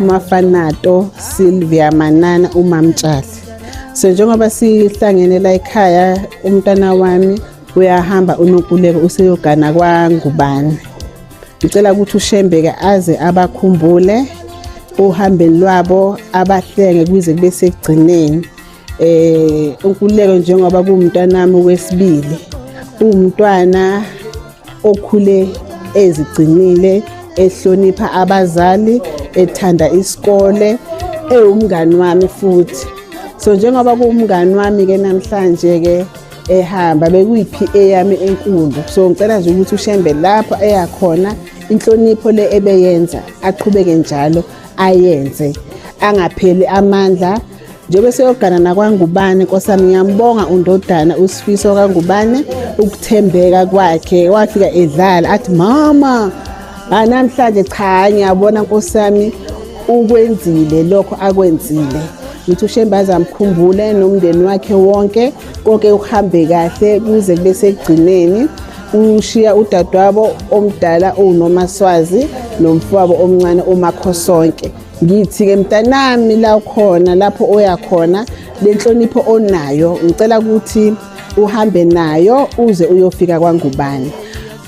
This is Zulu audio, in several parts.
umafanato Sylvia Manana umamtshali so njengoba sihlangene la ekhaya umntana wami uyahamba unokuleka useyogana kwangubani ngicela ukuthi ushembeke aze abakhumbule uhambeni lwabo abahlenge kuze kube sekugcineni eh unkululeko njengoba kuwumntanami wesibili uwumntwana okhule ezigcinile ehlonipha abazali ethanda isikole ewumngani wami futhi so njengoba kuwumngani wami ke namhlanje ke ehamba bekuyi-PA yami enkulu so ngicela nje ukuthi ushembe lapho eyakhona inhlonipho le ebeyenza aqhubeke njalo ayenze angapheli amandla njengoba seyogana nakwangubane nkosami ngiyambonga undodana usifiso kangubane ukuthembeka kwakhe wafika edlala athi mama namhlanje cha ngiyabona nkosi yami ukwenzile lokho akwenzile ngithi ushembaza amkhumbule nomndeni wakhe wonke konke kuhambe kahle kuze kube sekugcineni ushiya udadewabo omdala uwunomaswazi nomfowabo omncane umakhosonke Ngithi-ke mntanami la ukhona lapho oya khona le nhlonipho onayo ngicela ukuthi uhambe nayo uze uyofika kwangubani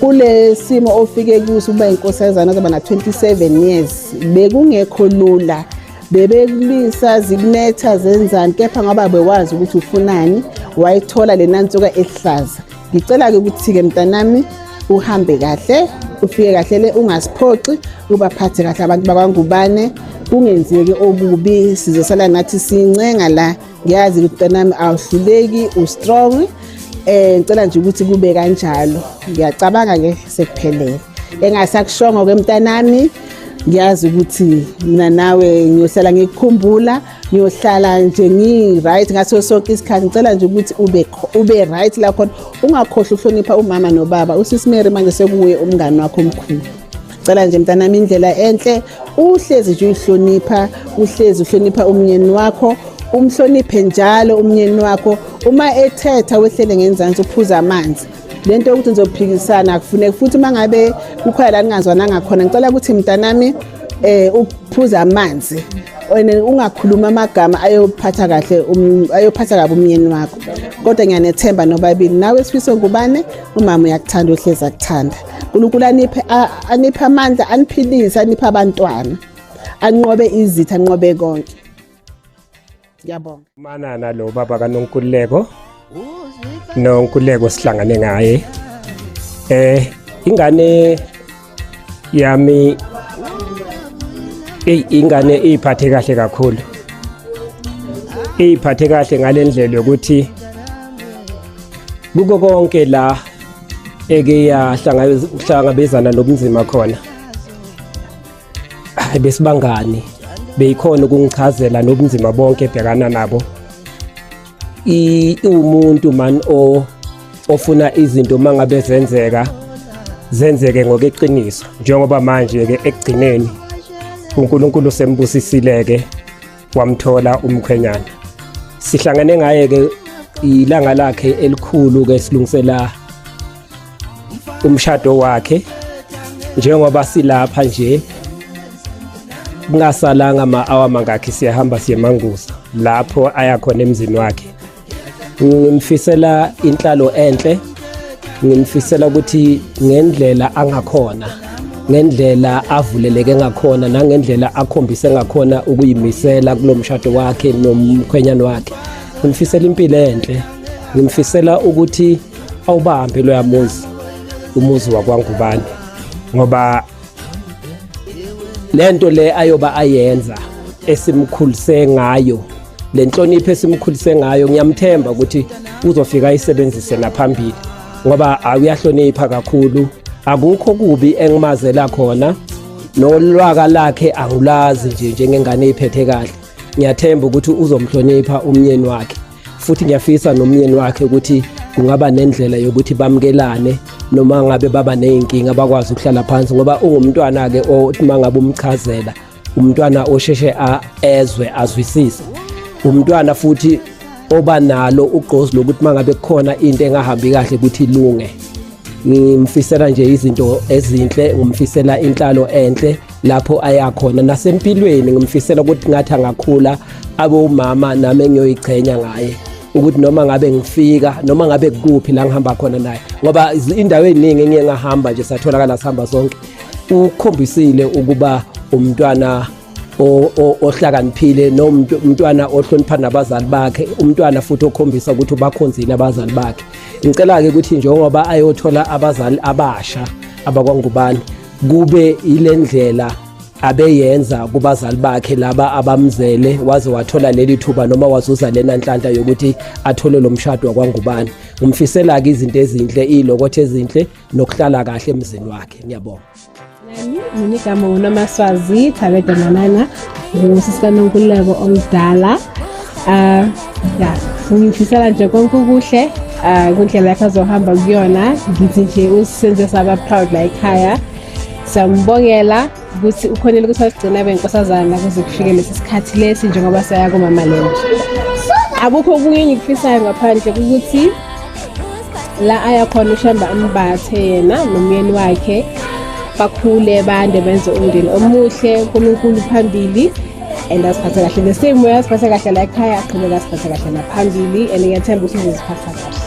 kule simo ofike kuso uba inkosazana zoba na-27 years bekungekho lula bebekulisa zikunetha zenzani kepha ngoba bewazi ukuthi ufunani wayithola le nansuka ehlaza ngicela-ke ukuthi-ke mntanami uhambe kahle ufike kahle le ungasiphoxi ubaphathe kahle abantu bakwangubane kungenzeki okubi sizosala nathi sincenga la ngiyazi ukuthi mntanami awuhluleki ustrong um eh, ngicela nje ukuthi kube kanjalo ngiyacabanga-ke sekuphelele engasakushongo-ke mntanami ngiyazi ukuthi mina nawe ngiyosala ngikukhumbula ngiyohlala nje ngi-right ngaso sonke isikhathi ngicela nje ukuthi ube ube right la khona ungakhohlwa uhlonipha umama nobaba usisi Mary manje sekuwuye umngani wakho omkhulu cela nje mntanami indlela enhle uhlezi nje uyihlonipha uhlezi uhlonipha umnyeni wakho umhloniphe njalo umnyeni wakho uma ethetha wehlele ngenzansi uphuza amanzi le nto yokuthi nizophikisana akufuneki futhi uma ngabe kukhona la ningazwananga khona ngicela ukuthi mntanami eh ukuphuza amanzi wena ungakhuluma amagama ayophatha kahle um, ayophatha kabi umyeni wakho kodwa ngiyanethemba nobabili nawe sifiso ngubane umama uyakuthanda uhlezi akuthanda uNkulunkulu aniphe aniphe amandla aniphilise aniphe abantwana anqobe izitha anqobe konke ngiyabonga manana lo baba kanonkululeko nonkululeko sihlangane ngaye eh ingane yami ey ingane iphathe kahle kakhulu iphathe kahle ngalendlela yokuthi kuko konke la eke yahlangabezana nobunzima khona besibangani beyikhona ukungichazela nobunzima bonke ebhekana nabo iwumuntu man o ofuna izinto mangabe zenzeka zenzeke ngokeqiniso njengoba manje ke ekugcineni uNkulunkulu sembusisile ke wamthola umkhwenyana sihlangane ngaye ke ilanga lakhe elikhulu ke silungisela umshado wakhe njengoba silapha nje kungasalanga ama-awa mangakhi siyahamba siyemanguza lapho ayakhona emzini wakhe ngimfisela inhlalo enhle ngimfisela ukuthi ngendlela angakhona ngendlela avuleleke ngakhona nangendlela akhombise ngakhona ukuyimisela kulomshado wakhe nomkhwenyana wakhe ngimfisela impilo enhle ngimfisela ukuthi awubambe loya muzi umuzi wakwangubane ngoba lento le ayoba ayenza esimkhulise ngayo le nhlonipho esimkhulise ngayo ngiyamthemba ukuthi uzofika ayisebenzise naphambili ngoba awuyahlonipha kakhulu akukho kubi engimazela khona nolwaka lakhe angulazi nje njengengane iphethe kahle ngiyathemba ukuthi uzomhlonipha umyeni wakhe futhi ngiyafisa nomyeni wakhe ukuthi kungaba nendlela yokuthi bamukelane noma ngabe baba nezinkinga bakwazi ukuhlala phansi ngoba ungumntwana ke othi mangabe umchazela umntwana osheshe ezwe azwisise umntwana futhi oba nalo ugqozi lokuthi mangabe kukhona into engahambi kahle ukuthi ilunge ngimfisela nje izinto ezinhle ngimfisela inhlalo enhle lapho aya khona nasempilweni ngimfisela ukuthi ngathi angakhula abe umama nami engiyoyichenya ngaye ukuthi noma ngabe ngifika noma ngabe kukuphi la ngihamba khona naye ngoba indawo eziningi engiye ngahamba nje satholakala sihamba sonke ukhombisile ukuba umntwana ohlakaniphile nomuntu umntwana ohlonipha nabazali bakhe umntwana futhi okhombisa ukuthi ubakhonzile abazali bakhe ngicela ke ukuthi njengoba ayothola abazali abasha abakwangubani kube ilendlela abeyenza kubazali bakhe laba abamzele waze wathola leli thuba noma wazuza lena nhlanhla yokuthi athole lo mshado wakwangubani umfisela-ke izinto ezinhle iy'lokotho ezinhle nokuhlala kahle emzini wakhe ngiyabonga mina igama ngunomaswazi thabede manana ngusisikanonkululeko omdala um ya ngifisela nje konke okuhle um kundlela yakhe azohamba kuyona ngithi nje usenze saba-proud la ekhaya siyambongela ukuthi ukhonele ukuthi asigcina abe inkosazana kuze kufike lesi sikhathi lesi njengoba saya kumama lento akukho okunye engikufisayo ngaphandle ukuthi la aya khona ushamba ambathe yena nomyeni wakhe bakhule bande benze umndeni omuhle unkulunkulu phambili and asiphathe kahle the same way asiphathe kahle la ekhaya aqhubeka asiphathe kahle naphambili and ngiyathemba ukuthi uzoziphatha kahle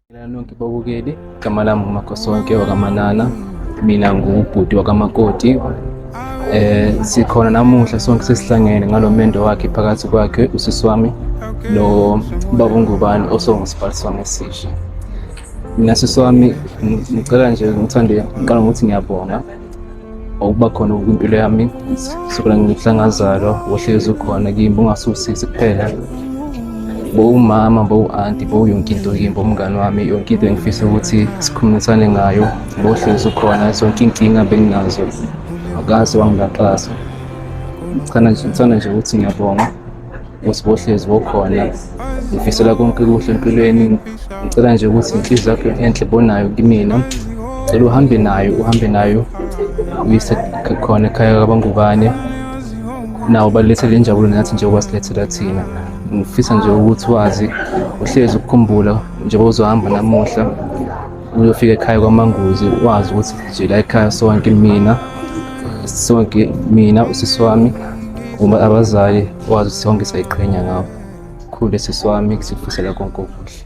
Nonke babukeli, igama lami nguMakosonke wakaManana, mina ngubhuti wakamakoti. Eh sikhona namuhla sonke sesihlangene ngalomendo wakhe phakathi kwakhe usisi wami no baba uNgubani osongusibhali sami esisha. Mina sisi wami ngicela nje ngithande ngiqala ngokuthi ngiyabonga ukuba khona kwimpilo yami kusukela ngimhla ngazalwa wohlezi ukhona kimi ungasubusisi kuphela bowumama bowu-anti bowuyonke into kimi bomngane wami yonke into engifisa ukuthi sikhulumisane ngayo bohlezi ukhona zonke inkinga benginazo akaze wangilaxasa ngithanda nje ukuthi ngiyabonga usibohlezi wokhona ngifisela konke kuhle empilweni ngicela nje ukuthi inhliziyo yakho enhle bonayo kimina cela uhambe nayo uhambe nayo uyise khona ekhaya kabangubane nawo balethele injabulo nathi njengoba silethela thina ngifisa nje ukuthi wazi uhlezi ukukhumbula njengoba uzohamba namuhla uyofika ekhaya kwamangozi wazi ukuthi nje la ekhaya sonke mina sonke mina usisi wami uma abazali wazi sonke sayiqhenya ngawo khule sisi wami kusifisela konke okuhle